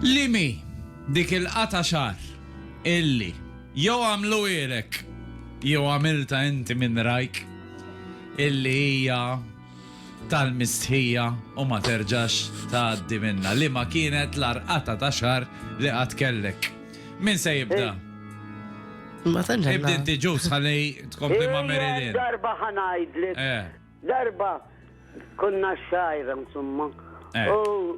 Liemhi dik il-qatgħa xagħar illi jew għamlu għirek jew għamiltha inti minn rajk illi hija tal-mistħija u ma terġax tgħaddi minnha? Liema kienet l-agħar qatgħa ta' xagħar li qatt kellek? Min se jibda? Ma tantx għandna. Ibda inti Ġus ħalli tkompli ma' Mary Lynn. Darba ħa ngħidlek. Darba konna xajra insomma. U